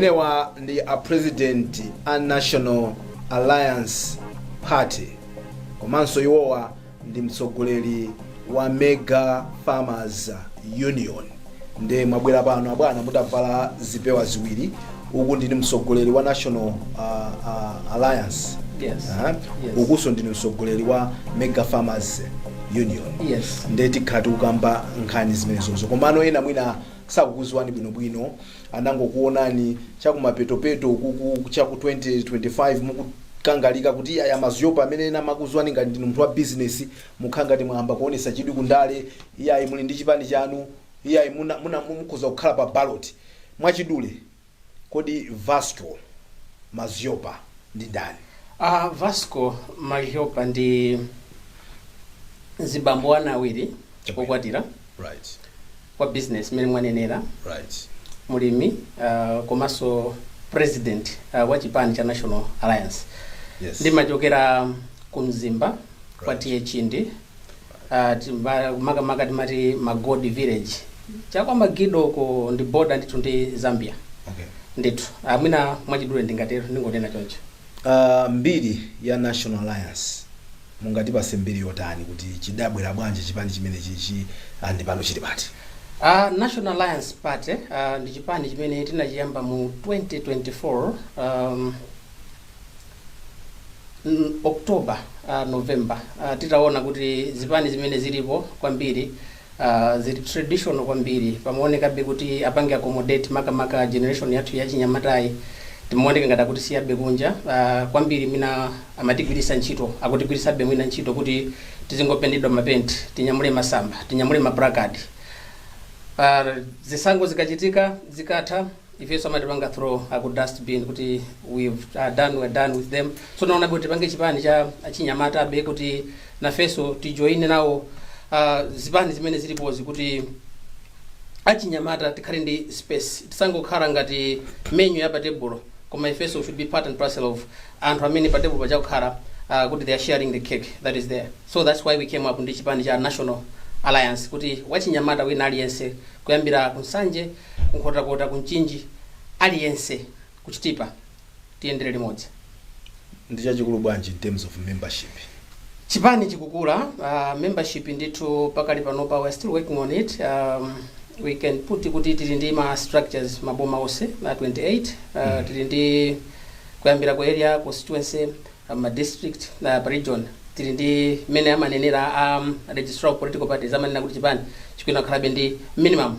Amenewa ndi a president a National Alliance Party komanso iwowa ndi mtsogoleri wa Mega Farmers Union nde mwabwera pano abwana mutavala zipewa ziwiri uku ndinu mtsogoleri wa National uh, uh, Alliance Yes. Aha. Yes. ukuso ndinu mtsogoleri wa Mega Farmers Union Yes. nde tikhala tikukamba nkhani zimenezozo komano ena mwina sakukuziwani bwinobwino anangokuonani chakumapetopeto ukuku chaku 2025 mukukangalika kuti iyayi a Madhlopa amene ena amakuziwani ngati ndinu munthu wa business mukhala ngati mwayamba kuonesa chidwi ku ndale iyayi muli ndi chipani chanu iyayi muna, muna mukhoza kukhala pa ballot mwachidule kodi Vasco Madhlopa ndi ndani Ah, Vasco Madhlopa ndi mzibambo wa ana awiri okwatira right wa business mmene mwanenera right mulimi uh, komanso president uh, wa chipani cha national alliance yes ndimachokera ku mzimba kwa Right. T/A Chindi uh, timba- makamaka timati magodi village chakwa Magidoko ndi boda ndithu ndi zambia okay ndithu amwina mwachidule ndingatero ndingonena choncho Aaa mbiri ya National Alliance mungatipase mbiri yotani kuti chidabwera bwanji chipani chimenechichi and pano chili pati? A National Alliance Party uh, ndi chipani chimene tinachiyamba mu 2024 um, mm, October uh, November uh, titaona kuti zipani zimene zilipo kwambiri zili traditional kwambiri pamaonekabe kuti apange accommodate makamaka generation yathu yachinyamatayi timaoneka ngati akutisiyabe kunja kwambiri mwina amatigwiritsa ntchito akutigwiritsabe mwina ntchito kuti tizingopentedwa mapenti tinyamule masamba tinyamule maplakadi zisankho zikachitika zikatha ifeso amatipanga throw out ku dust bin kuti we've uh, done we're done with them so naona kuti tipange chipani cha achinyamatabe kuti nafeso tijoine nawo uh, zipani zimene zilipozi kuti achinyamata tikhale ndi space tisangokhala ngati menu ya patebulo koma ifeso should be part and parcel of anthu amene patebulo paja akukhala uh, kuti they are sharing the cake that is there so that's why we came up ndi chipani cha national alliance kuti wachinyamata wina aliyense kuyambira ku Nsanje ku Nkhotakota, ku Mchinji, aliyense ku Chitipa tiyendere limodzi. ndi chachikulu bwanji in terms of membership? Chipani chikukula, uh, membership ndithu pakali panopa we're still working on it. Um, we can put kuti tili ndi ma structures m'maboma onse a 28 uh, tili ndi kuyambira ku area constituency uh, ma district na pa region tili ndi mmene amanenera um, registrar of political parties amanena kuti chipani chikuyenera kukhalabe ndi minimum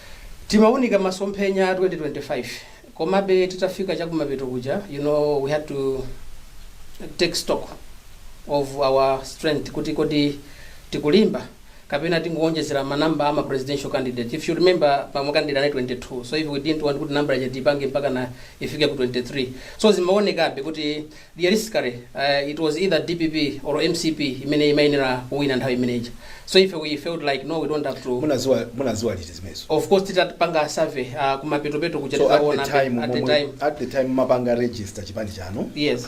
timaunika masomphenya a 2025 komabe titafika chakumapeto kuja you know we had to take stock of our strength kuti kodi tikulimba kapena tingowonjezera ma number ama presidential candidate if you remember ma candidate anali 22 so if we didn't want kuti number ija tipange mpaka na ifike ku 23 so zimaonekabe kuti realistically it was either dpp or mcp imene imayenera kuwina nthawi imene ija so ife we felt like no we don't have to munaziwa munaziwa liti zimenezo of course titapanga survey uh, kumapetopeto kuja so at the titaona time at the time at the time mumapanga register chipani chanu yes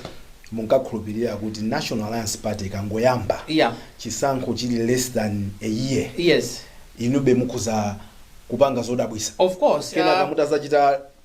munkakhulupirira kuti national alliance party ikangoyamba yeah chisankho chili less than a year yes inube mukhoza kupanga zodabwisa of course kenaka uh, mutazachita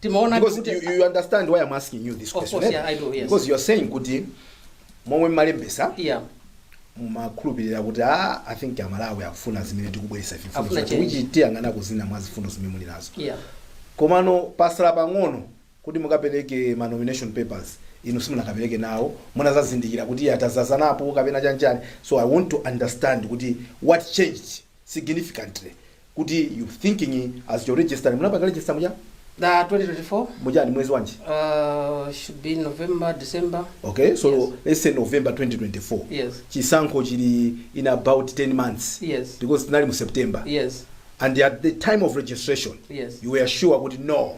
timaona Because kuti- you, you understand why I'm asking you this Of question. course, eh? yeah, I do, yes. Because you're saying kuti momwe mmalembesa yeah mumakhulupirira kuti ah, I think amalawi akufuna zimene tikubweresa ife mfundo Afuna zake, change. which tiyang'ana zina mwa mfundo zimene muli nazo yeah komano patsala pang'ono kuti mukapereke ma nomination papers inu simunakapereke nawo munazazindikira kuti atazazanapo kapena chanichani so i want to understand kuti what changed significantly kuti you thinking as your register munapanga register muja na 2024 muja ni mwezi wanji uh, should be november december okay so Yes. let's say november 2024 yes chisankho chili in about 10 months yes because tinali mu september yes and at the time of registration yes you were sure kuti no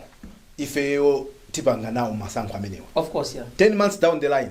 ifeyo tipanga nawo masankho amenewa of course yeah 10 months down the line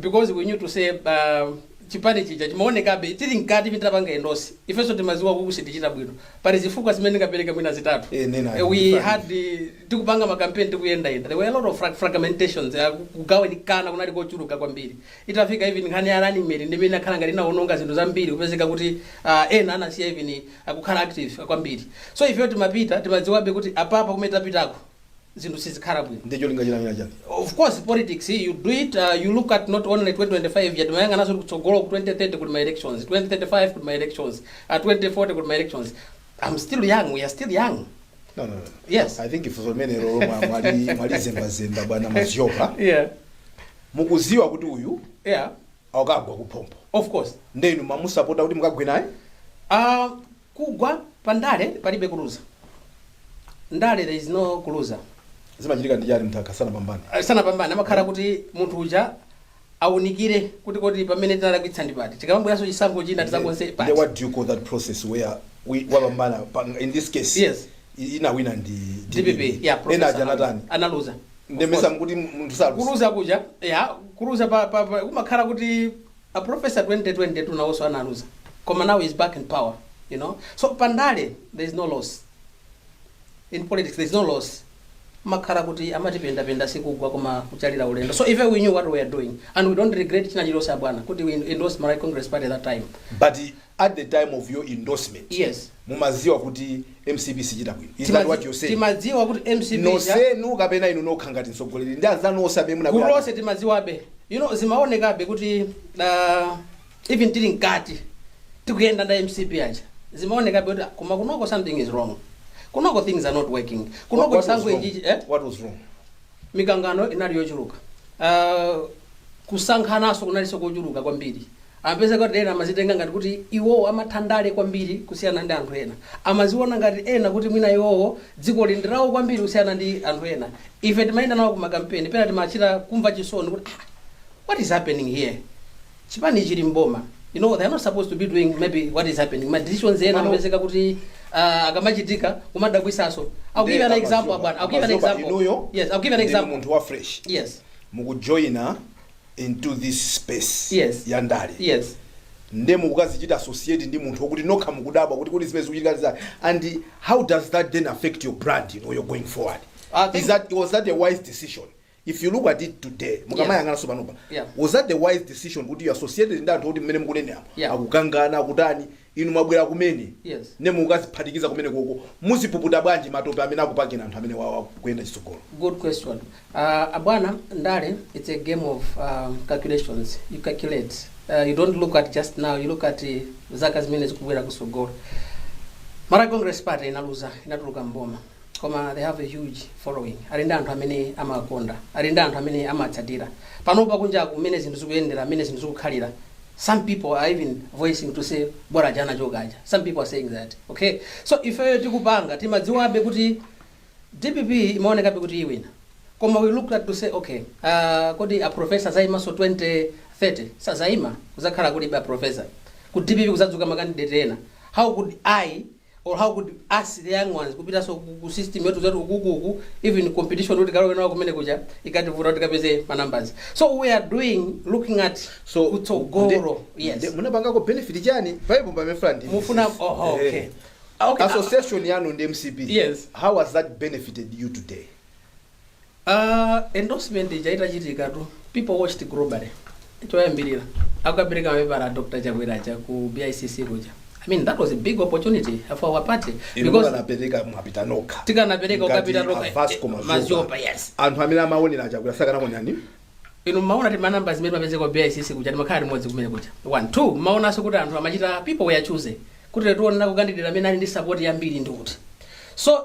because we knew to say uh, chipani chija chimaonekabe tili mkati mitapanga endorse ifenso timaziwa kuti sitichita bwino pali zifukwa zimene ndingapereke mwina zitatu Eh, nena. Eh, we had eh, tikupanga makampeni tikuyendayenda there were a lot of frag- fragmentations eh, kugawanikana kunali kochuluka kwambiri itafika even nkhani ya running mate ndimene inakhala ngati inaononga zinthu zambiri kupezeka kuti ah, ena anasiya even kukhala active kwambiri so ifeyo timapita timadziwabe kuti apapa kumene tapitako zinthu sizikhala bwino ndi cholinga china china chake of course politics you do it uh, you look at not only 2025 yet umayang'anaso kutsogolo ku 2030 kuli ma elections 2035 kuli ma elections uh, 2040 kuli ma elections i'm still young we are still young no, no, no. Yes. i think funso limenelo lomwe mwali- mwalizembazemba bwana Madzioka yeah mukuziwa kuti uyu yeah akagwa kuphompho of course nde mumamusapota kuti mukagwe naye uh, Kugwa pa ndale palibe kuluza. Ndale there is no kuluza. Zimachitika ndi chani munthu akakhala sanapambane? Sanapambane amakhala kuti munthu uja aunikire kuti kodi pamene tinalakwitsa ndi pati tikamabweranso chisankho china tizakonze pati. Nde what do you call that process where we wapambana pa, in this case Yes. i- inawina ndi DPP yeah ena professor ena aja anatani analuza. nde mesa mukuti munthu saluza Kuluza kuja yeah kuluza pa, pa, pa kumakhala kuti A professor 2020 tu nawoso analuza koma now is back in power you know so pa ndale there is no loss in politics there is no loss makhara kuti amati penda penda sikugwa koma kuchalira ulendo so if we knew what we are doing and we don't regret china chilose abwana kuti we endorse Malawi Congress Party that time but at the time of your endorsement Yes. mumaziwa kuti mcp sichita bwino is that Timazi- what you're saying timadziwa kuti mcp ija- nonsenu kapena inu nokha ngati mtsogoleri ndi anzanu onse amene gulu munabwera lonse timadziwabe you know zimaonekabe kuti uh, even tili mkati tikuyenda ndi a mcp aja zimaonekabe kuti ah, koma kunoko something is wrong kunoko things are not working What- kunoko what was chisankho wrong? ichichi eh? What was wrong? mikangano inali yochuluka uh, kusankhananso kunalinso kochuluka kwambiri Amapezeka kuti ena amazitenga ngati kuti iwowo amatha ndale kwambiri kusiyana ndi anthu ena. Amaziona ngati ena kuti mwina iwowo dzikoli ndi lawo kwambiri kusiyana ndi anthu ena. Ife timayenda nawo ku makampeni, pena timachita kumva chisoni kuti ah, what is happening here? Chipani chili m'boma, you know, they are not supposed to be doing maybe what is happening. Ma decisions ena Pano- amapezeka kuti ah, akamachitika kumadabwisanso. I'll give you an Nde example, a Madhlopa- bwana. I'll give you an a Madhlopa example. inuyo Yes, I'll give you an ndinu example. munthu wa fresh Yes. mukujoyina into this space Yes. ya ndale Yes. nde mukukazichita associate ndi munthu wokuti nokha mukudabwa kuti kodi zimene zikuchitika ndi zani? and how does that then affect your brand you know, you're going forward I think- Is that, was that a wise decision if you look at it today mukamayang'ananso panopa Yeah. was that the wise decision kuti you associated ndi anthu oti mmene mukuneneramo Yeah. akukangana akutani Inu mwabwera kumene Yes. nde mukukaziphatikiza kumenekoko muzipuputa bwanji matope amene akupakani anthu amenewawa kuyenda chitsogolo. Good question. Uh, abwana, ndale, it's a game of um, calculations. You calculate. Uh, you don't look at just now, you look at uh, zaka zimene zikubwera kusogolo. Malawi Congress Party inaluza, inatuluka mboma. koma they have a huge following ali ndi anthu amene amawakonda ali ndi anthu amene amawatsatira panopa kunjaku mmene zinthu zikuyendera mmene zinthu zikukhalira some people are even voicing to say bora aja anachoka aja some people are saying that okay so ifeyo tikupanga timadziwabe kuti dpp imaonekabe kuti iwina koma we looked at to say okay uh, kodi a professor azaimanso 2030 sazaima kuzakhala kulibe a professor ku dpp kuzadzuka makandidate ena how could i or how could us the young ones kupitaso ku- ku system yathu zati ukuku uku even competition kuti tikalowe nawo kumene kuja ikativuta kuti tikapeze ma numbers so we are doing looking at so kutsogolo yes munapangako benefit chani bible pamefula ndimafuna oh, okay okay association yanu ndi mcp Yes. how has that benefited you today Uh, endorsement ija itachitika tu people watched globally choyambirira akukapereka mapepala a dr chakwera aja ku bicc kuja i mean that was a big opportunity for our party inu because mukanapereka mwapita nokha tikanapereka Ngati ukapita a Vasco Madhlopa. Madhlopa yes anthu amene amaonera chakwera sakanaonani inu mmaona ti manamba zimene mapeze kwa bicc kuja timakhala limodzi kumene kuja one two mmaonanso kuti anthu amachita people were choosing kuti tiona ku candidate amene ali ndi support yambiri ndi kuti so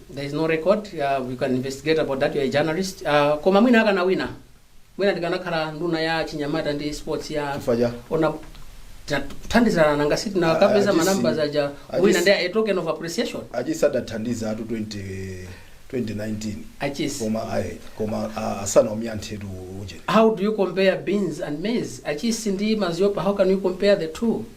there is no record uh, you can investigate about that you are a journalist uh, koma mwina akanawina mwina ndikanakhala nduna ya chinyamata ndi sports yeah Chifukwa cha? ona tinathandizirana nanga sitinakapeza Ah, ah, manamba this- zaja ah, wina this- ndi a token of appreciation a Chisi adathandizatu 20 2019 a Chisi koma ayi koma ah, asana omyanthetu ujeni how do you compare beans and maize a Chisi ndi Madhlopa how can you compare the two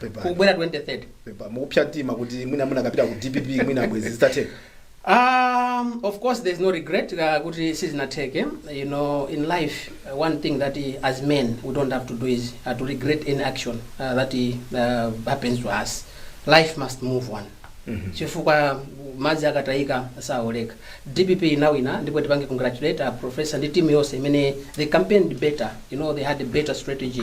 Pepani. kubwera 2030 Pepa, mukupsa mtima kuti mwina munakapita ku dpp mwina bwezi zitathe Um, of course, there's no regret. Uh, good, this is not take, eh? You know, in life, uh, one thing that eh, as men we don't have to do is uh, to regret any action uh, that eh, uh, happens to us. Life must move on. chifukwa madzi akatayika saoleka dpp inawina ndipo tipange congratulate a professor ndi timu yonse imene they campaigned better you know they had a better strategy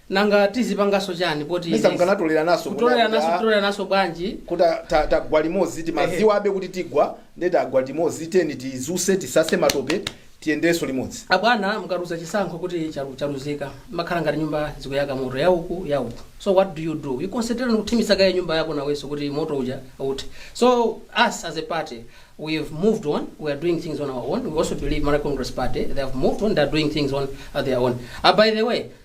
Nanga tizipangaso chani poti Mesa izi- mukanatoleranaso kutoleranaso kuda- kutoleranaso bwanji kuti a- ta- tagwa limodzi timadziwa abe kuti tigwa nde tagwa timodzi teni tizuse tisase matope tiyendeso limodzi abwana mukaluza chisankho kuti chalu- chaluzika zimakhala ngati nyumba zikuyaka moto yauku yauku so what do you do you concentrate on kuthimitsa kaye nyumba yako nawenso kuti moto uja uthe so us as a party we have moved on we are doing things on our own we also believe malawi congress party they have moved on they are doing things on uh, their own uh, by the way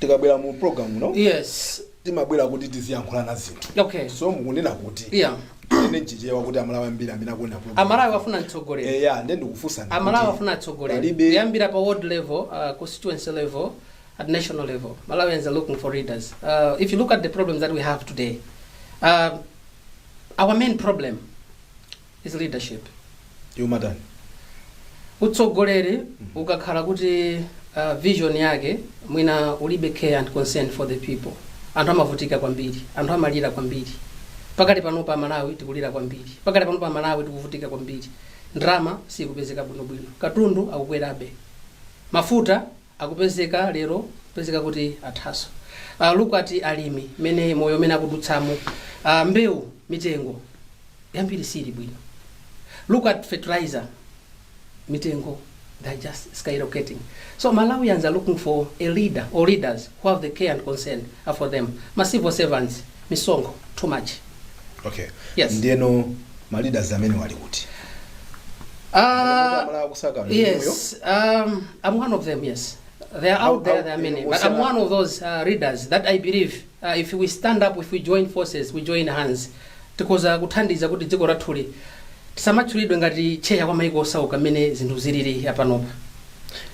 tikabwera mu program muno yes timabwera kuti tiziyankhulana zinthu okay so mukunena kuti yeah ine nchichewa kuti amalawi ambiri amene akuona program amalawi afuna atsogoleri eya nde ndikufunsani amalawi kuti afuna atsogoleri palibe- kuyambira pa ward level uh, constituency level at national level malawians are looking for leaders uh, if you look at the problems that we have today uh, our main problem Is leadership yomatani utsogoleri ukakhala kuti uh, vision yake mwina ulibe care and concern for the people anthu amavutika kwambiri anthu amalira kwambiri pakati pano pa malawi tikulira kwambiri pakati pano pa malawi tikuvutika kwambiri ndalama sikupezeka bwinobwino katundu akukwerabe mafuta akupezeka lero kupezeka kuti athaso uh, look at alimi mmene moyo umene akudutsamo uh, mbewu mitengo yambiri siili bwino look at fertilizer mitengo they're just skyrocketing so malawians are looking for a leader or leaders who have the care and concern for them ma civil servants misonkho too much okay Yes. ndiyeno ma leaders amene ali kuti Ah, Amalawi akusaka mmoyo. yes, um, I'm one of them, yes. They are How- out there, how- there are many. eh, But I'm Musala- one of those uh, leaders that I believe uh, if we stand up, if we join forces, we join hands, tikoza kuthandiza kuti dziko lathuli tisamatchulidwe ngati tcheya kwa maiko osauka mmene zinthu zilili apanopa.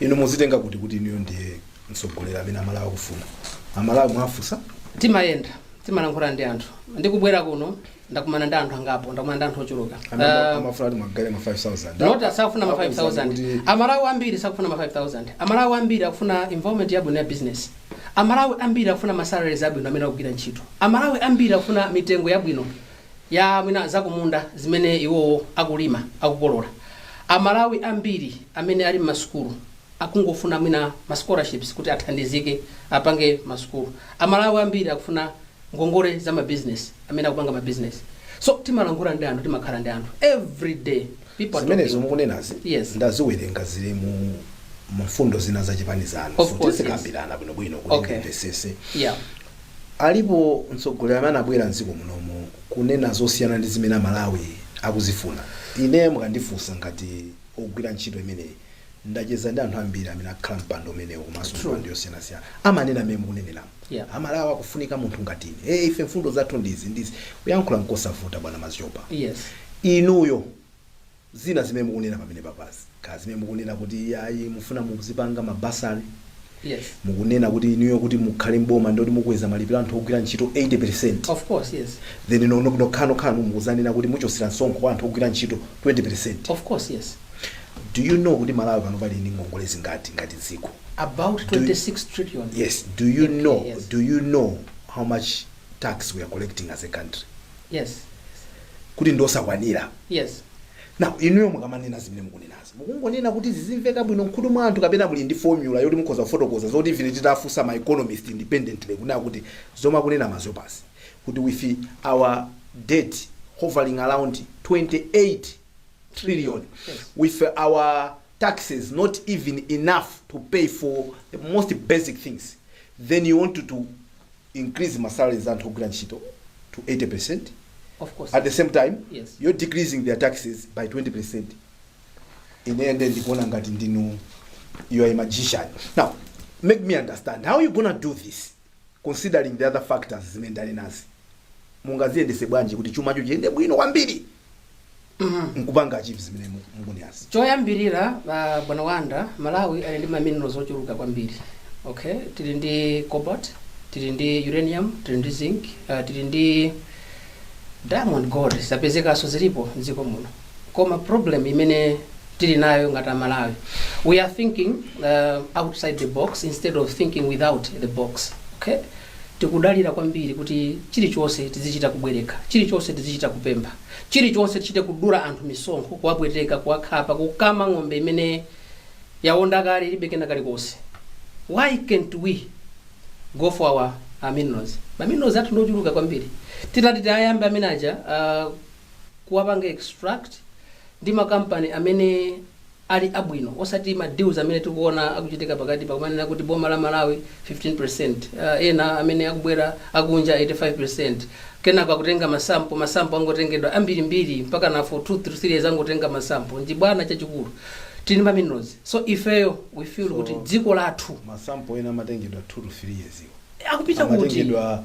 inu mukuzitenga kuti kuti inuyo ndiye mtsogoleri amene amalawi akufuna amalawi mwafunsa timayenda timalankhula ndi anthu ndikubwera kuno ndakumana ndi anthu angapo ndakumana ndi anthu ochuluka Anamba- Eh, amafuna kuti mugawe ma 5000 not sakufuna ma Akuwuza 5000 kuti- amalawi ambiri sakufuna ma 5000 amalawi ambiri akufuna environment yabwino ya business amalawi ambiri akufuna ma salaries abwino amene akugwira ntchito amalawi ambiri akufuna mitengo yabwino ya mwina zakumunda zimene iwowo akulima akukolola amalawi ambiri amene ali m'masukulu akungofuna mwina ma scholarships kuti athandizike apange ma sukulu. A Malawi ambiri akufuna ngongole za ma business amene akupanga ma business. So timalankhula ndi anthu timakhala ndi anthu every day people are zimenezo talking. mukunenazi Yes. ndaziwerenga zili mu mfundo zina za chipani chanu Of So course, tizikambirana bwinobwino kuti Okay. ndimvesese Yeah. alipo mtsogoleri amene anabwera mdziko munomu kunena zosiyana ndi zimene amalawi akuzifuna ine mukandifunsa ngati ogwira ntchito imeneyi ndacheza ndi anthu ambiri amene akhala mpando umenewu komanso True. mipando yosiyanasiyana amanena mmene mukuneneramu Yeah. aMalawi akufunika munthu ngati ine hey, ife mfundo zathu ndizi ndizi kuyankhula nkosavuta bwana Mazizopa yes inuyo zina zimene mukunena pamene papazi ka zimene mukunena kuti ayi mufuna muzipanga mabasali Yes. mukunena kuti inuyo kuti mukhale mboma ndoti mukweza malipiro anthu ogwira ntchito 80% Of course, yes. then no- no- nokhanokhano mukudzanena kuti muchotsera msonkho kwa anthu ogwira ntchito 20% Of course, yes. do you know kuti malawi panopa ali ndi ngongole zingati ngati dziko About 26 trillion. yes do you Okay, know yes. do you know how much tax we are collecting as a country Yes. kuti ndosakwanira Yes. now inuyo mukamanena zimene mukunenazo Mukungonena kuti zidzimveka bwino mkhutu mwa anthu kapena muli ndi formula yoti mukhoza kufotokoza zoti even titafunsa ma economist independently kunena kuti zomwe akunena a Mazopa 'si kuti with our debt hovering around 28 trillion with our taxes not even enough to pay for the most basic things then you want to increase ma salaries anthu ogwira ntchito to 80% Of course. at the same time Yes. you're decreasing their taxes by 20% ineyo nde ndikuona ngati ndinu you are a magician now make me understand how you gonna do this considering the other factors zimene ndanenazi mungaziyendese bwanji kuti chumacho chiyende bwino kwambiri nkupanga achieve zimene mu- mukunenazi choyambirira uh, bwana Wanda Malawi ali ndi maminerals ochuluka kwambiri okay tili ndi cobalt tili ndi uranium tili ndi zinc uh, tili ndi diamond gold zapezekanso zilipo mdziko muno koma problem imene tili nayo ngati amalawi we are thinking uh, outside the box instead of thinking without the box okay tikudalira kwambiri kuti chilichonse tizichita kubwereka chilichonse tizichita kupempha chilichonse tichite kudula anthu misonkho kuwapweteka kuwakhapa kukama ng'ombe imene yaonda kale ilibe kena kalikonse why can't we go for our uh, minerals ma minerals athu ndiochuluka kwambiri titati tiyayambe amene aja uh, kuwapanga extract ndi ma company amene ali abwino osati ma deals amene tikuona akuchitika pakatipa kumanena kuti boma la Malawi 15% uh, ena amene akubwera akunja 85% kenako akutenga masampo masampo angotengedwa ambirimbiri mpakana for 2 3 years angotenga masampo nde bwana chachikulu ndi ma minerals so ifeyo we feel So- kuti dziko lathu masampo ena amatengedwa 2 to 3 years iwo akupita kuti amatengedwa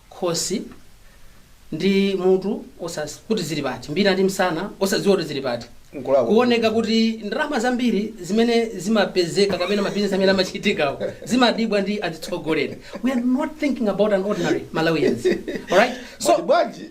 khosi ndi mutu osasiyanitsa kuti zili pati, mbina ndi msana osadziwa kuti zili pati. N'kulakwa. Kuoneka kuti ndalama zambiri zimene zimapezeka kapena mabizinesi amene amachitikawo zimadyedwa ndi azitsogoleri. We are not thinking about an ordinary Malawians. Alright? So, Mati bwanji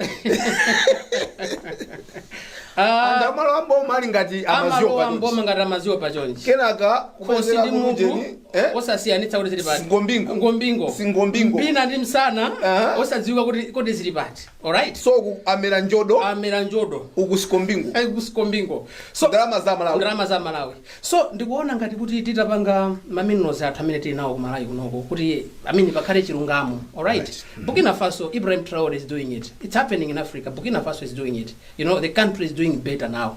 ah, anthu amalowa m'boma ali ngati amaziwo amalowa patuti mboma ngati amaziwo pachonchi. kenaka khosi kubwezera ndi mutu kujeni Eh? osasiyanitsa kuti zili pati Ngombingo. ngombingo Si ngombingo. mbina ndi msana Aha. osadziwika kuti kodi zili pati alright so ku amera njodo amera njodo uku sikombingo Ai, ku sikombingo so ndalama za malawi ndalama za malawi so ndikuona ngati kuti titapanga maminerals athu amene tili nawo ku malawi kunoko kuti amene pakhale chilungamo alright Right. burkina faso ibrahim traore is doing it it's happening in africa burkina faso is doing it you know the country is doing better now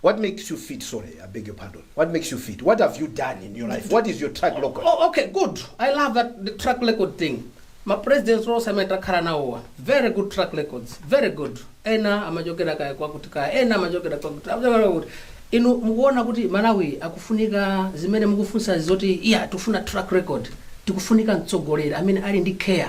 What makes you fit sorry I beg your pardon what makes you fit what have you done in your life what is your track record Oh, okay, good. I love that the track record thing. Ma presidents onse amene takhala nawowa very good track records very good ena amachokera kaya kwakuti kaya ena amachokera kwakuti amachokera kwakuti inu mukuona kuti malawi akufunika zimene mukufunsa zoti iya tikufuna track record tikufunika mtsogoleri amene ali ndi care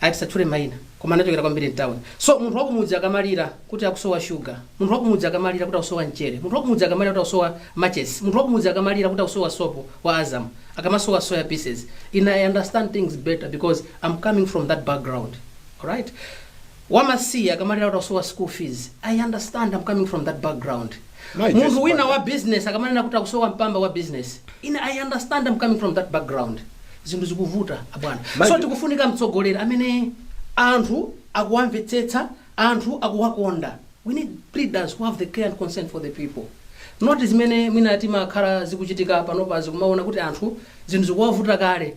ayi tisatchule maina koma anachokera kwambiri mtown so munthu wakumudzi akamalira kuti akusowa sugar munthu wakumudzi akamalira kuti akusowa mchere munthu wakumudzi akamalira kuti akusowa matches munthu wakumudzi akamalira kuti akusowa sopo wa azam akamasowa soya pieces ine i understand things better because i'm coming from that background alright wamasiye akamalira kuti akusowa school fees i understand i'm coming from that background My munthu best wina partner. wa business akamanena kuti akusowa mpamba wa business ine i understand I'm coming from that background zinthu zikuvuta abwana Manje- so tikufunika mtsogoleri amene anthu akuwamvetsetsa anthu akuwakonda we need leaders who have the care and concern for the people not zimene mwina zimakhala zikuchitika panopa zikumaona kuti anthu zinthu zikuwavuta kale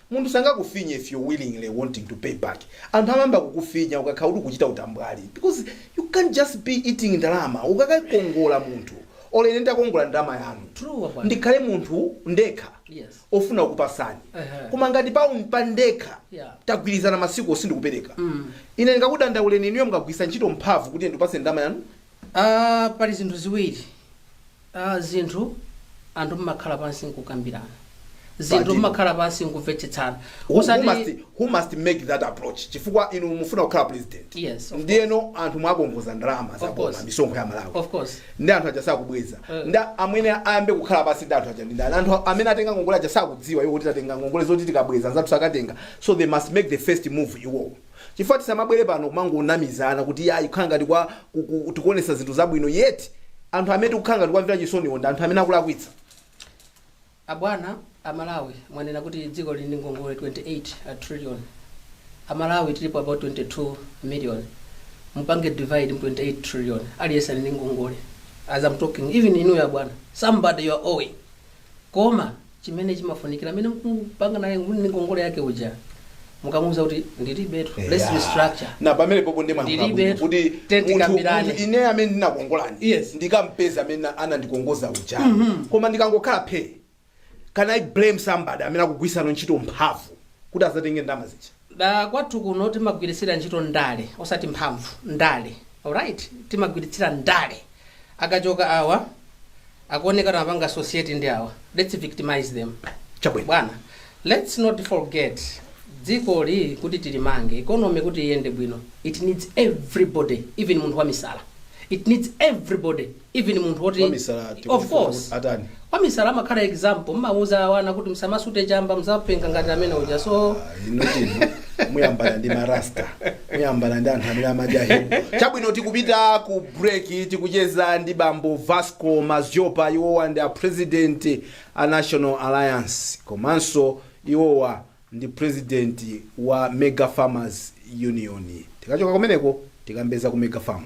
Munthu sangakufinye if you willingly wanting to pay back, anthu amayamba kukufinya ukakhala kuti ukuchita utambwali because you can't just be eating ndalama ukakakongola munthu or ine nditakongola ndalama yanu True, bwana. ndikhale munthu ndekha Yes. ofuna kukupasani Ehe. koma ngati pa, pa ndekha Yeah. tagwirizana masiku osindikupereka Mm. ine ndikakudandauleni inuyo mukagwiritsa ntchito mphamvu kuti ndipase ndalama yanu Ah, pali zinthu ziwiri a zinthu anthu mmakhala pansi nkukambirana zinthu Pati- mmakhala pansi nkumvetsetsana Who, who, osati must, who must make that approach chifukwa inu mufuna kukhala president Yes, of ndiyeno anthu mwawakongoza ndalama za Of course. boma misonkho ya malawi of course ndi anthu aja sakubweza Eh. nde amene ayambe kukhala pansi ndi anthu aja ndi ndani anthu amene atenga ngongole aja sakudziwa iwo kuti tatenga ngongole zoti tikabweza anzathu akatenga so they must make the first move iwowo chifukwa tisamabwere pano kumangonamizana kuti yayi kukhala ngati kwa ku- ku- tikuonetsa zinthu zabwino yet anthu amene tikukhala ngati kuwamvera chisoniwo ndi anthu amene akulakwitsa abwana amalawi mwanena kuti dziko lili ndi ngongole 28 trillion amalawi tilipo about 22 million mupange divide mu 28 trillion aliyense ali ndi ngongole as i'm talking even inuyo abwana somebody you are owing koma chimene chimafunikira amene mkupanga naye ndi ngongole yake uja mukamuuza kuti ndilibetu let's Eya. restructure na pamene popo ndi mwayankhula Ndilibe bwino kuti tete munthu kambirane. munthu ine amene ndinakongolani Yes. ndikampeza amene anandikongoza uja koma ndikangokhala phe can i blame somebody amene akugwiritsa ntchito mphamvu kuti azatenge ndama zija da kwathu kuno timagwiritsira ntchito ndale osati mphamvu ndale alright timagwiritsira ndale akachoka awa akuoneka kuti amapanga associate ndi awa let's victimize them Chabwino. bwana let's not forget dzikoli kuti tilimange economy kuti iyende bwino it needs everybody even munthu wamisala it needs everybody even munthu woti Wamisala of tikufuna course kuti atani? wamisala amakhala example mmauza wana kuti msamasute chamba mzapenga ngati amene uja so inutu inu muyambana ndi marasta muyambana ndi anthu amene amadya herb chabwino tikupita ku break tikucheza ndi bambo vasco madhlopa iwowa ndi a president a national alliance komanso iwowa ndi president wa Mega Farmers Union. Tikachoka kumeneko tikambe za ku Mega Farm.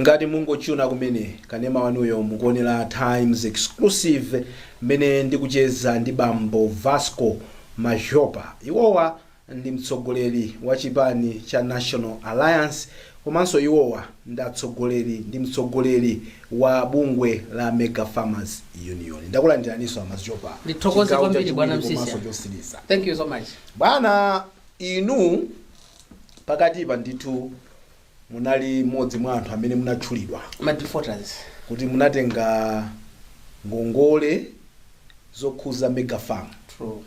ngati mungotchuna kumene kanema wanuyo mukuonera times exclusive mmene ndikucheza ndi bambo vasco madhlopa iwowa ndi mtsogoleri wa chipani cha National Alliance komanso iwowa ndi atsogoleri ndi mtsogoleri wa bungwe la Mega Farmers Union. Ndakulandiraninso a Madhlopa. Ndithokoze Chigawo kwambiri chachiwiri bwana Msiska. komanso chotsiriza. Thank you so much. Bwana inu pakatipa ndithu munali mmodzi mwa anthu amene munatchulidwa ma defaulters kuti munatenga ngongole zokhuza mega farm true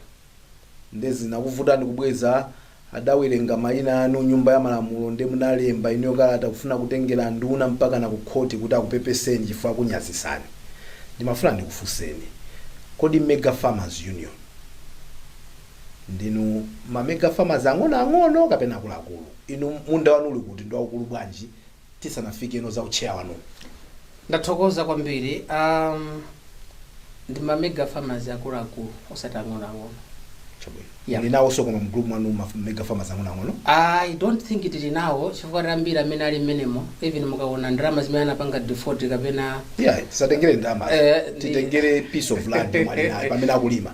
nde zinakuvutani kubweza adawerenga mayina anu nyumba ya malamulo nde munalemba inuyo kalata kufuna kutengera nduna mpakana kukhoti kuti akupepeseni chifukwa akunyazisani ndimafuna ndikufunseni kodi mega farmers union Ndinu ma mega farmers ang'onoang'ono kapena akuluakulu? Inu munda wanu uli kuti? Ndiwaukulu bwanji? Tisanafike kuno za u chair wanuwu. Ndathokoza kwambiri. Ahm ndi ma mega farmers akuluakulu osati ang'onoang'ono. Chabwino. Yeah. Muli nawonso koma mu group mwanu ma mega farmers ang'onoang'ono? I don't think tili nawo chifukwa anthu ambiri amene ali mmenemo even mukawona ndalama zimene anapanga default kapena Iyayi, tisatengere ndalamazo. Eh, ndi- Titengere piece of land yomwe ali nayo pamene akulima.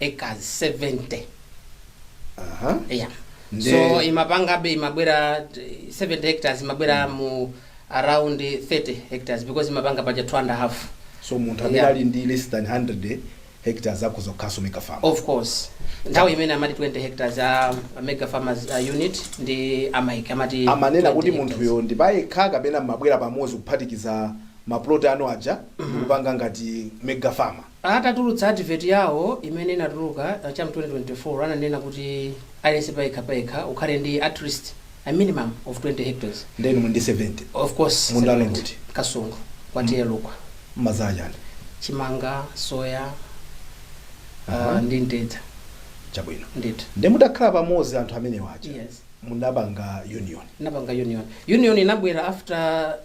acres 70 Aha. yeah. Nde- so imapangabe imabwera eh, 70 hectares imabwera mu around 30 hectares because imapanga paja 2 and a half so munthu amene Yeah. ali ndi less than 100 hectares akhoza kukhalaso mega farm of course nthawi imene amati 20 hectares a a mega farmers uh, unit ndi amati amanena 20 kuti hectares. munthuyo ndi payekha kapena mmabwera pamodzi kuphatikiza maplot anu aja ndikupanga ngati mega farmer Atatulutsa advert yawo imene inatuluka cha mu 2024 ananena kuti aliyense payekha payekha ukhale ndi atleast a minimum of 20 hectares. Nde inu muli ndi 70? Of course 70. Munda wanu uli kuti? Kasungu kwa TA Lukwa. Mmadzala chani? Chimanga, soya uh, Aha. ndi mtedza. Chabwino. Ndithu. Nde mutakhala pamodzi anthu amenewa aja Yes. munapanga union. Tinapanga union. Union inabwera after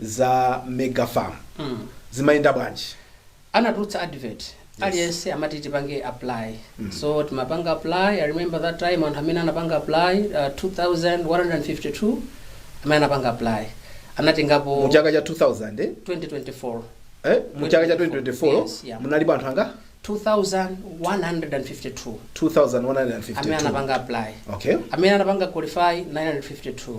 za mega farm zimayenda bwanji anatulutsa advert aliyense amati tipange apply so timapanga apply i remember that time anthu amene anapanga apply uh, 2152 amene anapanga apply anatengapo mu chaka cha 2000 eh? 2024 Eh? mu chaka cha 2024 Yes, yeah. munalipo anthu angati 2152 amene 2152 anapanga apply okay amene anapanga qualify 952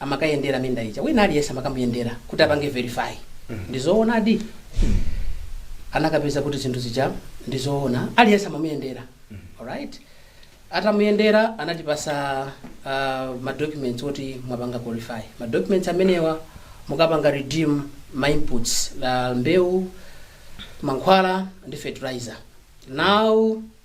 amakayendera minda ija wina aliyense amakamuyendera kuti apange verify ndizoonadi anakapeza kuti zinthu zija ndizoona aliyense amamuyendera alright atamuyendera anatipasa uh, madocuments oti mwapanga qualify madocuments amenewa mukapanga redeem ma inputs like mbewu mankhwala ndi fertilizer now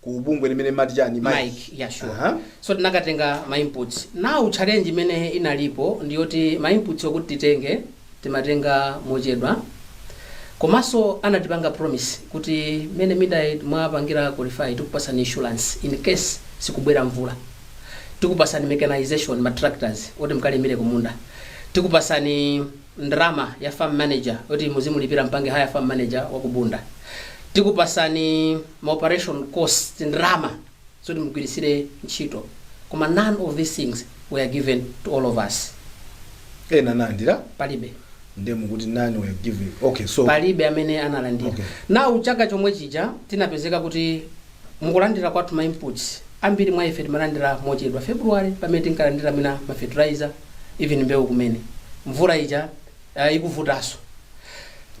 ku bungwe limene limati chani Mike yeah, sure. Aha. so tinakatenga ma inputs now challenge imene inalipo ndiyoti ma inputs okuti titenge timatenga mochedwa komanso anatipanga promise kuti mmene mwapangira qualify tikupasani insurance in case sikubwera mvula tikupasani mechanization ma tractors oti mkalimire kumunda tikupasani ndrama ya farm manager oti muzimulipira mpange hire farm manager wa ku Bunda. Tikupasani ma operation costs ndrama zoti mugwiritsire ntchito. Koma none of these things were given to all of us. ena analandira Palibe. nde mukuti none were given okay so palibe amene analandira Okay. now chaka chomwe chija tinapezeka kuti Mu kulandira kwathu ma inputs, ambiri mwa ife timalandira mochedwa. February pamene tinkalandira mwina ma fertilizer, even mbewu kumene, mvula ija ah, ikuvutaso.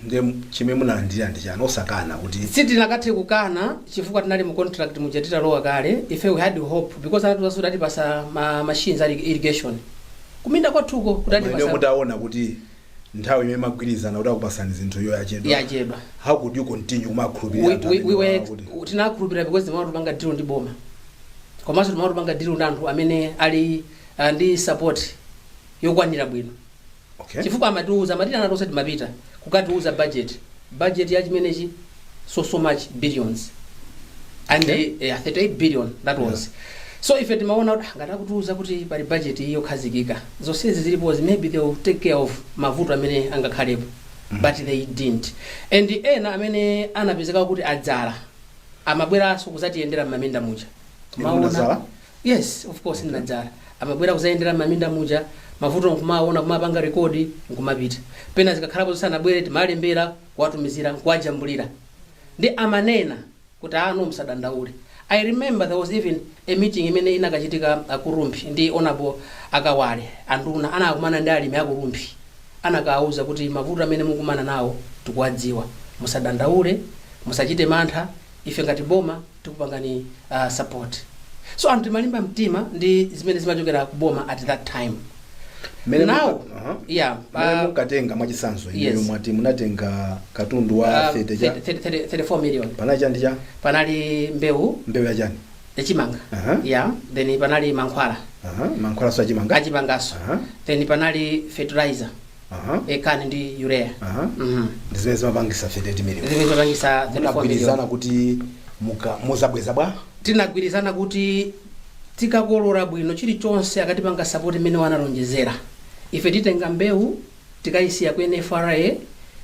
Nde chimene munalandira ndi chani osakana kuti. Sitinakathe kukana chifukwa tinali mu contract muja titalowa kale, ife we had hope because anatiuzaso kuti atipasa ma machines a irrigation kuminda kwathuko kuti Koma inuyo atipasa. mutaona kuti nthawi imene munagwirizana kuti akupasani zinthu iyo yachedwa Yachedwa. how could you continue kumakhulupirira we, anthu we, amene we were, wakuti- u- tinakhulupirira because timaona kuti tupanga deal ndi boma komanso timaona kuti tupanga deal ndi anthu amene ali uh, ndi support yokwanira bwino okay chifukwa amatiuza amatiitana tonse timapita kukatiuza budget budget ya chimenechi so so much billions and Okay. eh, yeah, 38 billion that was so ife timaona kuti ah, ngati akutiuza kuti pali budget iyi yokhazikika zonsezi zilipozi maybe they will take care of mavuto amene angakhalepo but they didn't and ena amene anapezeka kuti adzala amabweranso kuzatiyendera m'maminda muja Inu munadzala? Yes of course ndinadzala. Amabwera kuzayendera m'maminda muja, mavuto nkumaona kumapanga record nkumapita. Pena zikakhalapo zoti sanabwere timalembera kuwatumizira nkuwajambulira. Nde amanena kuti ah no musadandaule. I remember there was even a meeting imene inakachitika ah, ku Rumphi ndi Honorable Akawale anduna anakumana ndi alimi a ku Rumphi. Anakawauza kuti mavuto amene mukumana nawo tikuwadziwa. Musadandaule, musachite mantha, ife ngati boma tikupangani uh, support so anthu timalimba mtima ndi zimene zimachokera ku boma at that time Mmene now muka- aha. yeah Mmene uh, mukatenga mwachisanzo inuyo yes. mwati munatenga katundu wa uh, 30 cha 30 30 34 million panali chani chani panali mbewu mbewu ya chani yachimanga Aha. yeah then panali mankhwala Aha, mankhwala so achimanga achimangaso Aha. then panali fertilizer Aha. CAN ndi urea Aha. Mhm. ndi zimene zimapangisa 34 million zimene zimapangisa 34 million munagwirizana kuti muka- muzabweza bwanji tinagwirizana kuti tikakolora bwino chilichonse akatipanga sapoti mmene analonjezera ife titenga mbewu tikayisiya ku nfra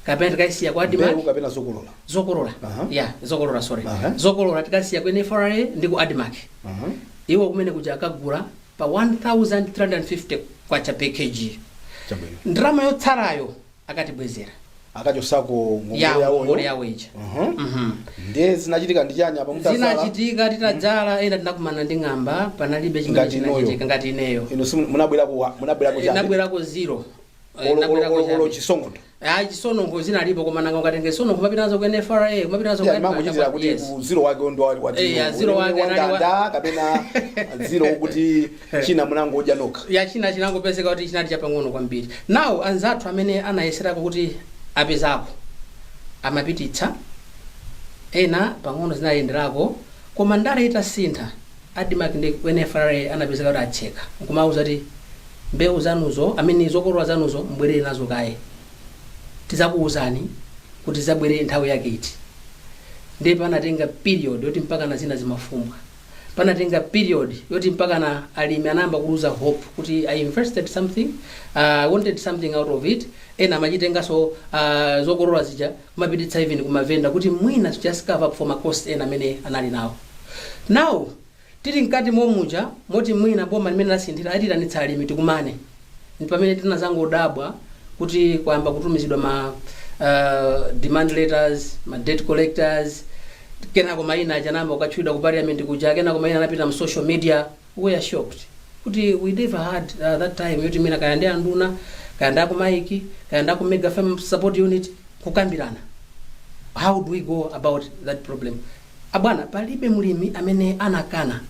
kapena tikayisiya ku admarc mbewu kapena zokolola zokolola Aha. ya zokolola sorry Aha. zokolola tikasiya ku nfra ndi ku admarc Aha. iwo kumene kuja akagula pa K1350 per kg. Chabwino. Ndalama yotsalayo akatibwezera Akachosako ya ngongole yawo ngongole yawo. yawo ija. Mhm. Mhm. Ndiye zinachitika ndi chani apa mutadzala? zinachitika titadzala ena tinakumana ndi ng'amba panalibe chimene Ngati inuyo. chinachitika ngati ineyo Inu simu- munabwerako, munabwerako chani? nabwerako zero Eh, Olo- nabwerako olo- olo- chani. olo chisononkho Ah, chisononkho zinalipo koma nanga ukatenge chisononkho kumapita nazo ku nfra kumapita nazo ku Yeah, mangochitira Admarc, kuti yes. ku zero wake ndo wa- wa Eh, ya, dzino. zero wake Wa anali wa- ndanda kapena zero kuti china munangodya nokha ya china chinangopezeka kuti chinali chapang'ono kwambiri now anzathu amene anayeserako kuti apezako amapititsa ena pang'ono zinayenderako koma ndale itasintha Admarc ndi ku NFRA anapezeka kuti atseka nkumawauza kuti mbewu zanuzo I mean zokolola zanuzo mubwerere nazo kaye tidzakuuzani kuti zidzabwere nthawi yake iti ndiye panatenga period yoti mpakana zina zimafumbwa panatenga period yoti mpakana alimi anayamba kuluza hope kuti I invested something uh, I wanted something out of it ena amachitenganso uh, zokolola zija kumapititsa even ku ma vendor kuti mwina to just cover up for ma cost ena amene anali nawo. Now tili mkati momuja moti mwina boma limene lasinthali atiitanitsa alimi tikumane ndi pamene tinazangodabwa kuti kwayamba kutumizidwa ma demand letters, ma debt collectors, kenako maina aja anayamba kukatchulidwa ku parliament kuja, kenako maina anapita mu social media. we were shocked kuti we never had uh, that time yoti mwina kaya ndi anduna kaya ndi aku MAIIC kaya ndi aku mega farm support unit kukambirana how do we go about that problem abwana palibe mlimi amene anakana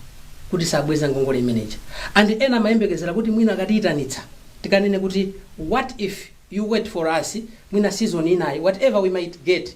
kuti sabweza ngongole imeneja and ena amayembekezera kuti mwina akatiyitanitsa tikanene kuti what if you wait for us mwina season inayi whatever we might get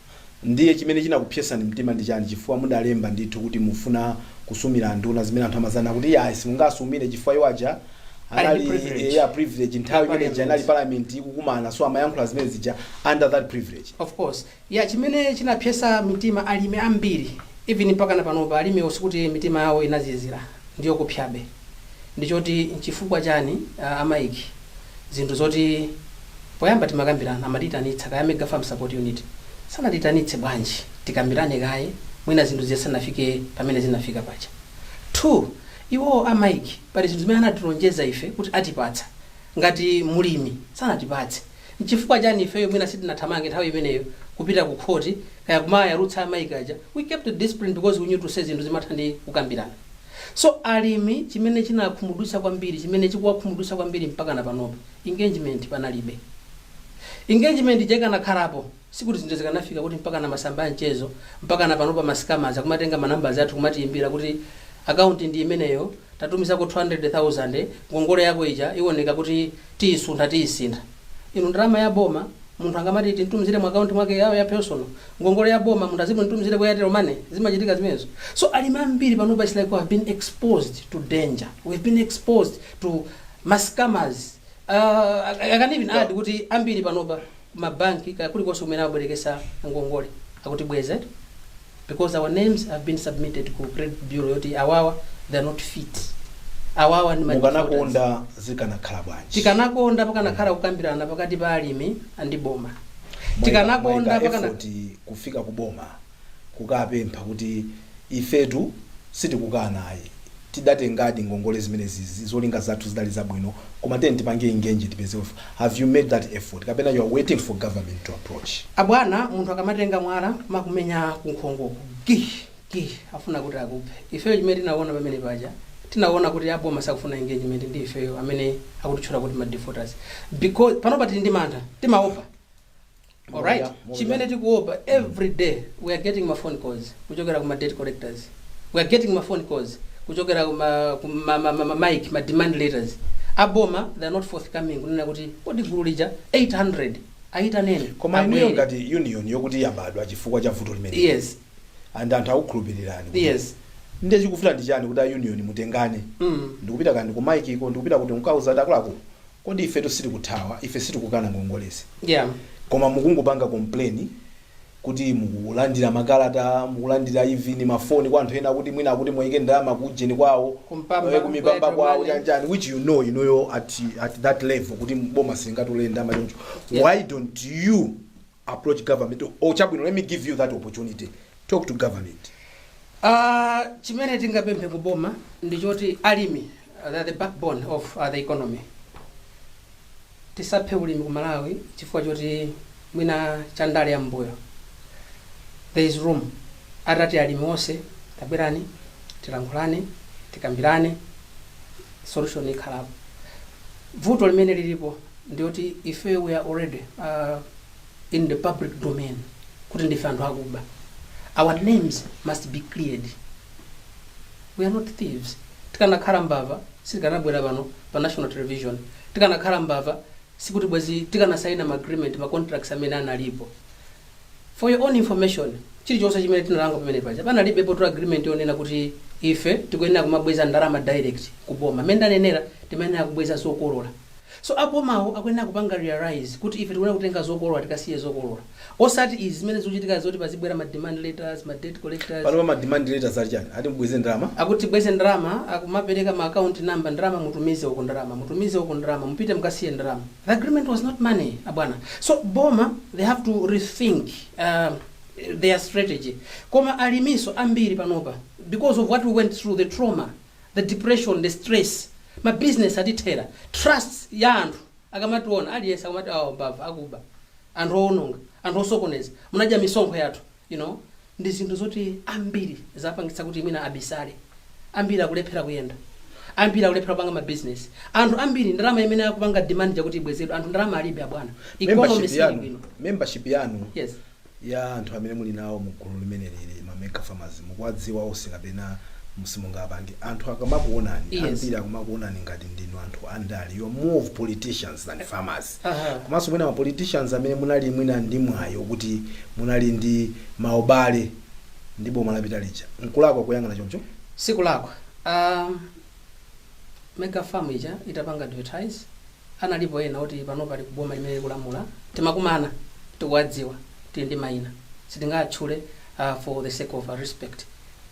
Ndiye chimene chinakupsesani mtima ndi chani chifukwa mudalemba ndithu kuti mufuna kusumira nduna zimene anthu amadzanena kuti iyayi simungasumire chifukwa iwo aja anali ndi privilege. eya privilege Ya nthawi imene ija inali parliament. parliament ikukumana so amayankhula zimene zija under that privilege. of course ya chimene chinapsesa mitima alimi ambiri even mpakana panopa alimiwo sikuti mitima yawo inazizira ndiyokupsabe ndichoti nchifukwa chani a MAIIC zinthu zoti poyamba timakambirana amatiitanitsa kaya mega farm support unit sanatiitanitse bwanji tikambirane kaye mwina zinthu zija zisanafike pamene zinafika paja two iwowo a MAIIC pali zinthu zimene anatilonjeza ife kuti atipatsa ngati mulimi sanatipatse nchifukwa chani ifeyo mwina sitinathamange nthawi imeneyo kupita ku khoti kaya kumayalutsa a MAIIC aja we kept discipline because we knew to say zinthu zimatha ndi kukambirana So alimi chimene chinakhumudwitsa kwambiri chimene chikuwakhumudwitsa kwambiri mpakana panopa engagement panalibe. Engagement ija ikanakhalapo sikuti zinthu zikanafika kuti mpakana masamba a mchezo mpakana panopa ma scammers akumatenga ma numbers athu kumatiyimbira kuti account ndi imeneyo tatumizako 200,000 ngongole yako ija iwoneka kuti tiyisuntha tiyisintha. Inu ndalama ya boma munthu angamati timtumizire mu account mwake ya ya personal. Ngongole ya boma munthu azimtumizire ku Airtel money? Zimachitika zimenezo. So alimi ambiri panopa it's like we have been exposed to danger. We have been exposed to ma scammers. Uh, I, I can even add kuti ambiri panopa ku mabanki kaya kulikonse kumene abwerekesa ngongole akutibweza eti. because our names have been submitted ku credit bureau yoti awawa they are not fit awawa ndi ma defaulters. mukanakonda zikanakhala bwanji tikanakonda pakanakhala kukambirana pakati pa alimi and boma Mwaika- tikanakonda mwaika pakana effort kufika ku boma kukapempha kuti ifetu sitikukana ayi tidatengadi ngongole zimenezizi zolinga zathu zidali zabwino koma tiyeni tipange engage tipeze ufulu have you made that effort kapena you're waiting for government to approach? Abwana munthu akamatenga mwala kumakumenya kunkhongoku gih gih afuna kuti akuphe. Ifeyo chimene tinaona pamene paja tinaona kuti aboma sakufuna engagement ndi ifeyo amene akutitchula kuti ma defaulters because panopa tili ndi mantha timaopa alright chimene tikuopa every day we are getting ma phone calls kuchokera ku ma debt collectors we are getting ma phone calls kuchokera ku ma, ku ma, ma, ma, ma MAIIC ma demand letters aboma they are not forthcoming kunena kuti kodi gulu lija 800 ayitaneni koma inuyo abwere. ngati union yokuti yabadwa chifukwa cha vuto limene yes and anthu akukhulupirirani kuti yes ndiye chikuvuta ndi chani kuti a union mutengane mm. ndikupita kaya ndi ku MAIIC ko ndikupita kuti mkauza ati akuluakulu Kodi ifetu sitikuthawa? Ife sitikukana ngongolezi. Koma mukungopanga complain kuti mukulandira makalata, mukulandira even mafoni kwa anthu ena akuti mwina akuti muwaike ndalama ku ujeni kwawo, ku Mpamba, eh, kumipamba ku Airtel, kwawo money. chani chani which you know inuyo at, at that level kuti boma silingatole ndalama choncho. Why don't you approach government or chabwino let me give you that opportunity talk to government Ah, chimene tingapemphe ku boma ndi choti alimi uh, they are the backbone of uh, the economy tisaphe ulimi ku malawi chifukwa choti mwina cha ndale ya mbuyo there is room atati alimi onse tabwerani tilankhulane tikambirane solution ikhalapo Vuto limene lilipo ndi woti ifeyo we are already uh, in the public domain kuti ndife anthu akuba. Our names must be cleared. We are not thieves. Tikanakhala mbava sitikanabwera pano pa national television. Tikanakhala mbava sikuti bwezi tikanasaina ma agreement ma contracts amene analipo. For your own information, chilichonse chimene tinapanga pamene paja panalibepotu agreement yonena kuti ife tikuyenera kumabweza ndalama direct ku boma. Mmene ndanenera timayenera kubweza zokolola. So abomawo akuyenera kupanga realise kuti ife tikuyenera kutenga zokolola tikasiye zokolola. Osati izi zimene zikuchitikazi zoti pazibwera ma demand letters, ma debt collectors. Panopa ma demand letters ali chani? Ati mubweze ndalama? Akuti tibweze ndalama, akumapereka ma account number, ndalama mutumize uko, ndalama mutumize uko, ndalama mupite mukasiye ndalama. The agreement was not money, abwana. So Boma, they have to rethink uh, their strategy. Koma alimi nso ambiri panopa, because of what we went through, the trauma, the depression, the stress, ma business atithera, trust ya anthu, akamationa, aliyense akamati awa mbava, akuba, anthu owononga, anthu osokoneza, munadya misonkho yathu, you know, ndi zinthu zoti ambiri zapangitsa kuti mwina abisale ambiri akulephera kuyenda ambiri akulephera kupanga mabizinesi anthu ambiri ndalama imene akupanga demand yakuti ibwezedwe anthu ndalama alibe abwana economy membership sili bwino membership yanu yes ya anthu amene muli nawo mu gulu limeneli la ma mega farmers mukuwadziwa onse kapena simungapange anthu akamakuonani Yes. ambiri akumakuonani ngati ndinu anthu andale you are more of politicians than farmers komanso mwina ma politicians amene munali mwina ndi mwayi okuti munali ndi ma ubale ndi boma lapita lija. Nkulakwa kuyang'ana choncho? Sikulakwa. Aaa Mega Farm ija itapanga advertise analipo ena oti panopa ali ku boma limene likulamula. Timakumana, tikuwadziwa, tili ndi maina. Sitingawatchule aah for the sake of respect.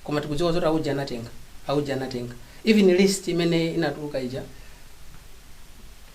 Koma tikudziwa zoti auje anatenga, auje anatenga. Even list imene inatuluka ija.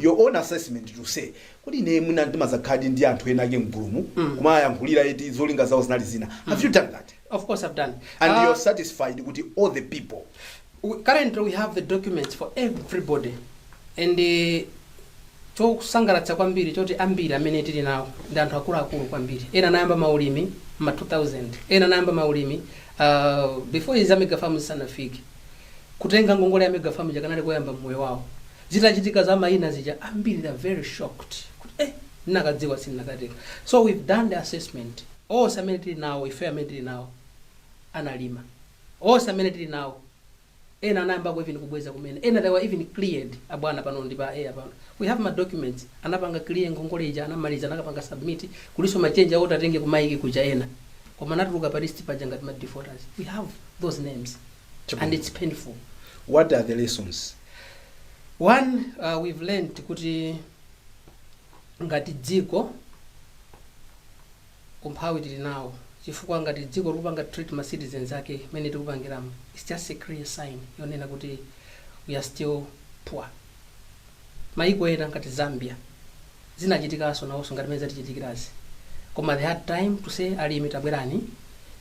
your own assessment to say kuti ine mwina ndimadzakhaladi ndi anthu ena ake mgulumu kumayankhulira eti zolinga zawo zinali zina have you done that of course i've done and Ah, you're satisfied kuti all the people we- currently we have the documents for everybody and eh, chokusangalatsa kwambiri nchoti ambiri amene tili nawo ndi anthu akuluakulu kwambiri ena anayamba maulimi ma 2000 ena anayamba maulimi uh, before za mega farm zisanafike kutenga ngongole ya mega farm ija kukanali koyamba mmoyo wawo zitachitika za mayina zija ambiri they are very shocked kuti eh ndinakadziwa sindinakatenga so we've done the assessment onse amene tili nawo ife amene tili nawo analima onse amene tili nawo ena anayambako even kubweza kumene ena they were even cleared abwana pano ndi pa air pano we have ma documents anapanga clear ngongole ija anamaliza anakapanga submit kuliso ma tender oti atenge ku MAIIC kuja ena koma anatuluka pa list paja ngati ma defaulters we have those names Chabwino. and it's painful what are the lessons one uh, we've learned kuti ngati dziko umphawi tili nawo chifukwa ngati dziko likupanga treat ma citizens ake mmene tikupangiramu its just a clear sign yonena kuti we are still poor Mayiko ena ngati Zambia zinachitikaso nawoso ngati mmene zatichitikirazi koma they had time to say alimi tabwerani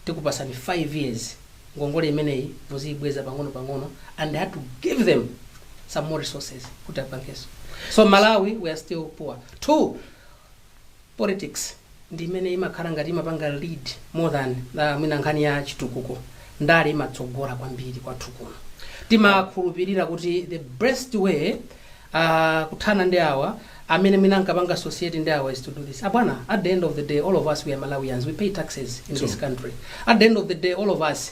tikupatsani 5 years ngongole imeneyi muziibweza pang'ono pang'ono and they had to give them some more resources kuti apangeso. So Malawi we are still poor. Two, Politics ndi imene imakhala ngati imapanga lead more than mwina nkhani ya chitukuko. Ndale imatsogola kwambiri kwathu kuno. Timakhulupirira kuti the best way uh, kuthana ndi awa amene mwina ankapanga associate ndi awa is to do this. Abwana, at the end of the day all of us we are Malawians, we pay taxes in this country. At the end of the day all of us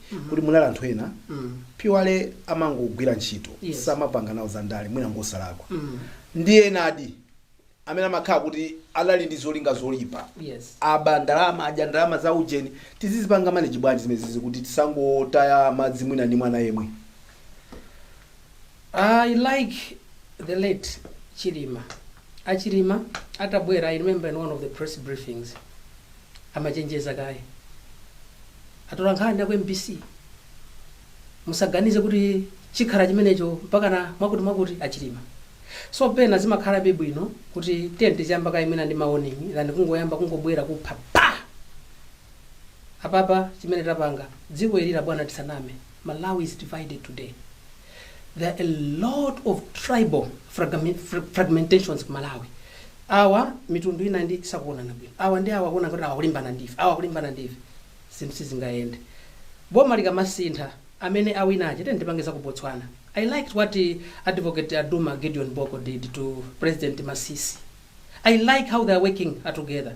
kuti munali anthu ena pyuwale amangogwira ntchito Yes. samapanga nawo za ndale mwina ngosalakwa ndi enadi amene amakhala kuti anali ndi zolinga zoipa Yes. aba ndalama adya ndalama za ujeni tizizipanga manage bwanji zimezizi kuti tisangotaya madzi mwina ndi mwana yemwe I like the late Chilima. Achilima atabwera, I remember in one of the press briefings, amachenjeza kaye atolankhani aku mbc musaganize kuti chikhala chimenecho mpakana mwakuti mwakuti achilima so pena zimakhalabe bwino kuti tiyeni tiziyamba kaye mwina ndi ma warning than kungoyamba kungobwera kupha pa apapa chimene tapanga dziko ili abwana tisaname Malawi is divided today. There are a lot of tribal fragment, fra- fragmentations ku Malawi. Awa mitundu ina ndi sakuonana bwino. Awa ndi awa kuona kuti awa akulimbana nafe. Awa akulimbana nafe. Zinthu sizingayende. Boma likamasintha amene awina aja tiyeni tipange za ku Botswana. I liked what eh, advocate a Duma Gideon Boko did to President Masisi. I like how they are working together.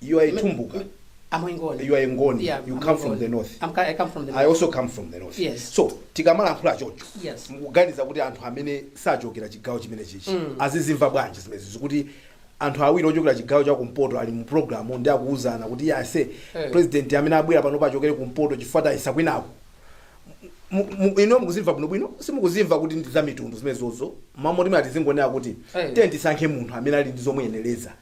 You are a Tumbuka. I'm Ngoni. You are a Ngoni. Yeah, you I'm come from Ngoni. the north. I'm, I come from the I north. also come from the north. Yes. So tikamalankhula chocho. Yes. Mukuganiza kuti anthu amene sachokera chigawo chimenechichi. Mm. Azizimva bwanji zimenezi kuti anthu awiri ochokera chigawo cha kumpoto ali mu program ndi akuuzana kuti ayi ase Eh. president amene abwera pano achokere kumpoto chifukwa tayesa kwinako. Mu- mu- ino mukuzimva bwino bwino simukuzimva kuti ndi za mitundu zimenezozo mmalo moti muzingonena kuti Eh. tiye tisankhe munthu amene ali ndi zomuyenereza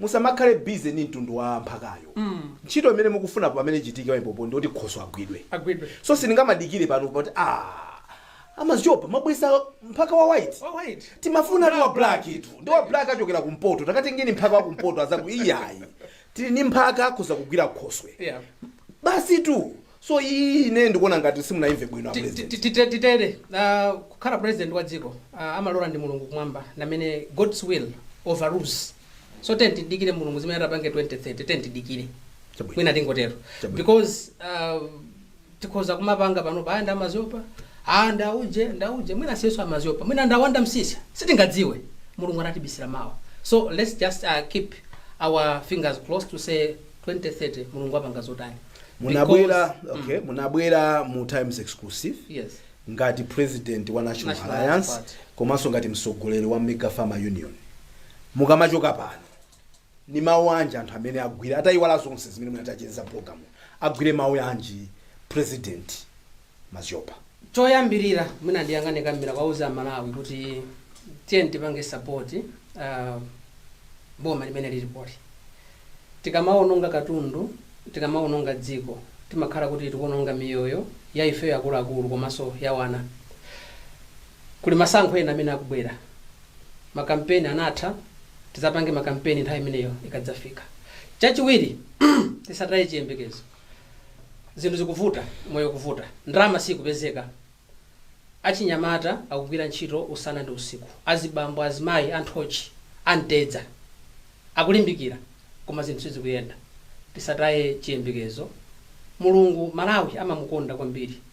Musamakhale busy ndi mtundu wa mphakayo ntchito imene mukufuna pamene ichitike pamenepopo ndi yoti khoswe agwidwe Agwidwe. so sindingamadikire pano poti aah a Maziopa mwabweretsa mphaka wa white Wa white. timafunatu wa blacktu ndi wa black achokera kumpoto takatengeni mphaka wa kumpoto azaku iyayi tili ndi mphaka akhoza kugwira khoswe Yeah. basitu So iyiyi ine ndikuona ngati simunaimve bwino a president. Titere kukhala president wa dziko amalora ndi Mulungu kumwamba ndi amene God's will overrules so tiyeni tidikire Mulungu zimene atapange 2030 tiyeni tidikire Chabwino. mwina tingotero Chabwino. because uh, tikhoza kumapanga panopa aya ndi a Maziopa a ndauje ndauje mwina si iyenso a Maziopa mwina ndi a Wanda Msiska sitingadziwe mulungu anatibisira mawa so let's just uh, keep our fingers crossed to say 2030 mulungu apanga zotani munabwera Because- okay munabwera mu times exclusive yes ngati president wa national National alliance Party. komanso ngati mtsogoleri wa mega farmer union mukamachoka pano ni mawu anji anthu amene agwire atayiwala zonse zimene mwina tacheza mu program agwire mawu anji president Maziopa. Choyambirira mwina ndiyang'ane kamera kuwauza amalawi kuti tiyeni tipange support boma limene lilipoli. Tikamaononga katundu, tikamaononga dziko timakhala kuti tikuononga miyoyo ya ifeyo akuluakulu komanso ya wana. Kuli masankho ena amene akubwera. Ma campaign anatha, tizapange ma campaign nthawi imeneyo ikadzafika. Chachiwiri tisataye chiyembekezo. zinthu zikuvuta moyo ukuvuta ndalama siikupezeka achinyamata akugwira ntchito usana ndi usiku azibambo azimayi anthochi amtedza akulimbikira koma zinthu sizikuyenda tisataye chiyembekezo mulungu malawi amamukonda kwambiri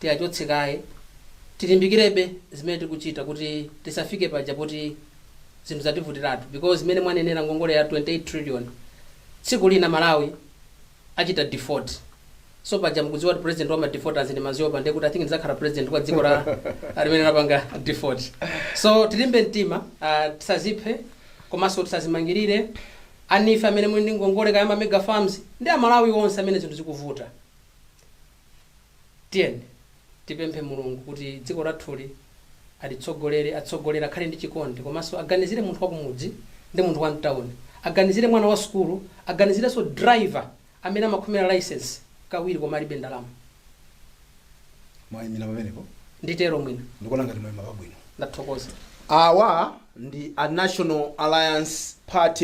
tiachotse kaye, tilimbikirebe zimene tikuchita kuti tisafike paja poti zinthu zativutiratu because mmene mwanenera ngongole ya 28 trillion tsiku lina Malawi achita default so paja mukudziwa kuti president wa ma defaulters ndi Maziopa ndiye kuti I think ndidzakhala president wa dziko lake limene lapanga default so tilimbe mtima uh, tisaziphe komanso tisazimangirire alimife amene muli ndi ngongole kaya ma mega farms ndi amalawi onse amene zinthu zikuvuta Tiyeni tipemphe Mulungu kuti dziko lathuli atitsogolere, atsogolere, akhale ndi chikondi komanso aganizire munthu wakumudzi ndi munthu wam'tauni, aganizire mwana wasukulu, aganizirenso driver amene amakhomera licence kawiri koma alibe ndalama. Mwaimira pamenepo? Nditero mwina. Ndikuona ngati mwaima pabwino. Ndathokoza. Awa ndi a National Alliance Party